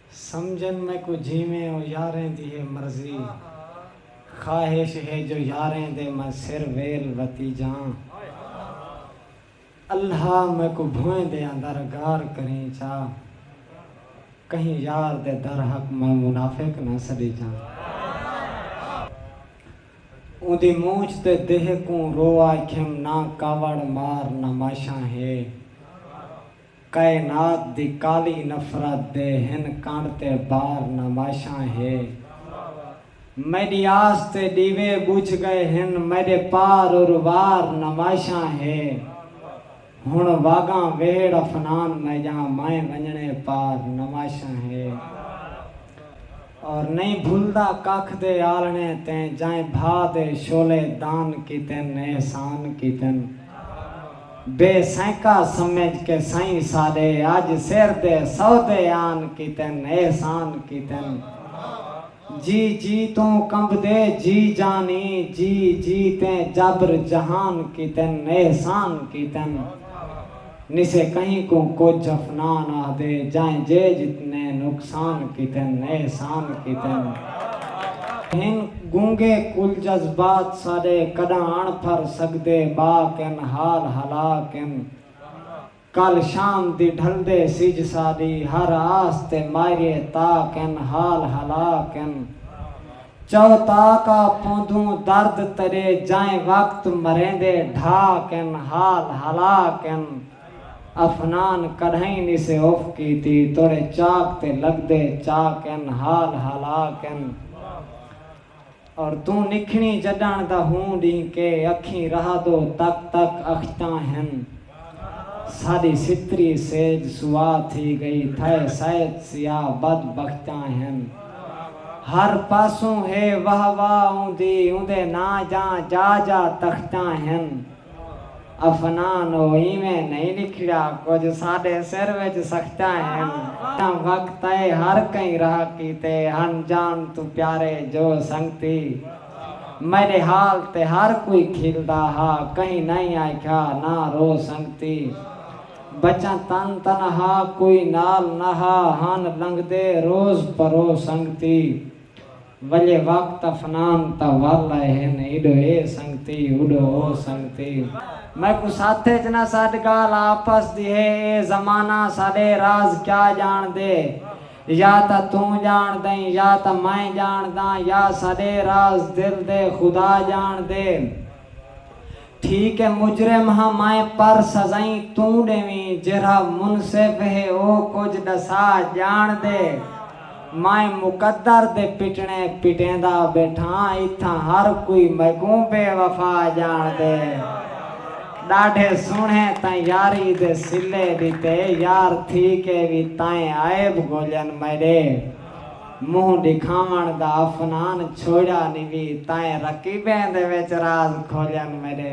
سمجھن میکوں جیویں او یاریں دی ہے مرضی خواہش ہے جو یاریں دے میں سر ویل وتی جاں اللہ میکوں بھوئیں دے اندر گار کریں چا کہیں یار دے در حق میں منافق نہ سڈی جاں اوندی مونچھ تے دیہہ کوں رو آکھیم نہ کاوڑ مار نماشاں ہے۔ کائنات دی کالی نفرت دے ہن کنڑ تے بار نمائشاں ہے میڈی آس تے ڈیوے بجھ گئے ہن میڈے پار ار وار نمائشاں ہے ہن واگاں وہیڑ افنان میجاں مائیں ونجنے پار نمائشاں ہے۔ اور نئیں بھلدا ککھ دے آلھݨے تیں جائیں بھا دے شعلے دان کیتن احسان کیتن بے سینکا سمجھ کے سئیں ساݙے اڄ سر دے سودے آن کیتن احسان کیتن جی جی توں کمبدے جی جانی جی جی تیں جبر جہان کیتن احسان کیتن۔ نسے کہیں کوں کجھ افنان آہدے جائیں جے جتنے نقصان کیتن احسان کیتن ہن گونگے کل جذبات ساڈے کڈاں اݨ پھر سگدے باک ہن حال ہلاک ہن کل شام دی ڈھلدے سجھ ساڈی ہر آس تے ماریے تاک ہن حال ہلاک ہن۔ چو تاکا پوندھوں درد ترے جائیں وقت مریندے ڈھا کن حال ہلا کن افنان کڈھائیں نیسے اف کیتی توڑے چاک تے لگدے چا کن حال ہلا کن اور توں نکھنی جڈان دا ہوں ڈینکے اکھیں رہادو تک تک اختاں ہن۔ ساݙی ستری سیج سواہ تھی ڳئی تھئے سائت سیاہ بد بختاں ہن ہر پاسوں ہے واہ واہ اوندی اوندے ناں جاں جا جا تختاں ہن افنان او ایویں نئیں لکھیا کجھ ساݙے سر وچ سختاں ہن جاں وقت اے ہر کئیں راہ کیتے ہن جان توں پیارے جو سنگتی میݙے حال تے ہر کوئی کھلدا ہا کہیں نئیں آکھیا نہ رو سنگتی بچاں تن تنہا کوئی نال نہ ہا ہن لنگھدے روز پرو سنگتی ولے وقت افنان تاں ول آئے ہن ایڈو اے سنگتی اوڈو او سنگتی میکوں ساتھ اچ نہ سڈ گالھ آپس دی ہے اے زمانہ ساڈے راز کیا جاݨدے۔ یا تاں توں ڄاݨدئیں یا تاں میں ڄاݨداں یا ساݙے راز دل دے خدا ڄاݨدے ٹھیک ہے مجرم ہاں میں پر سزائیں توں ݙیویں جیرھا منصف ہے او کجھ ݙسا ڄاݨدے میں مقدر دے پٹݨے پٹیندا ٻیٹھاں اتھاں ہر کوئی میکوں بے وفا ڄاݨدے۔ ݙاڈھے سوہݨے تاں یاری دے صلے ݙتے یار تھی کے وی تائیں عیب ڳولن میݙے مونہہ ݙکھاوݨ دا افنان چھوڑیا نی وی تائیں رقیبیں دے وچ راز کھولن میݙے